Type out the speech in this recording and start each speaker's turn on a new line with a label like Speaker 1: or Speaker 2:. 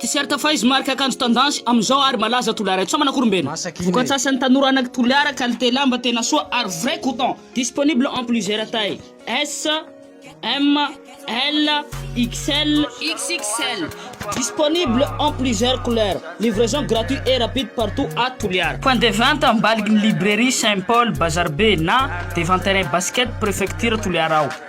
Speaker 1: T-shirt Faiz, marika akanjo tendance amin'izao ary malaza Toliara eto. Sao manako rombena? Vokats'asan'ny tanora anak'i Toliara, qualité lamba tena soa ary vrai coton. Disponible en plusieurs tailles, S, M, L, XL, XXL. Disponible en plusieurs couleurs. Livraison gratuit et rapide partout à Toliara. Point de vente ambaliky ny librairie Saint Paul Bazar Be na devant terrain basket prefecture Toliara ao.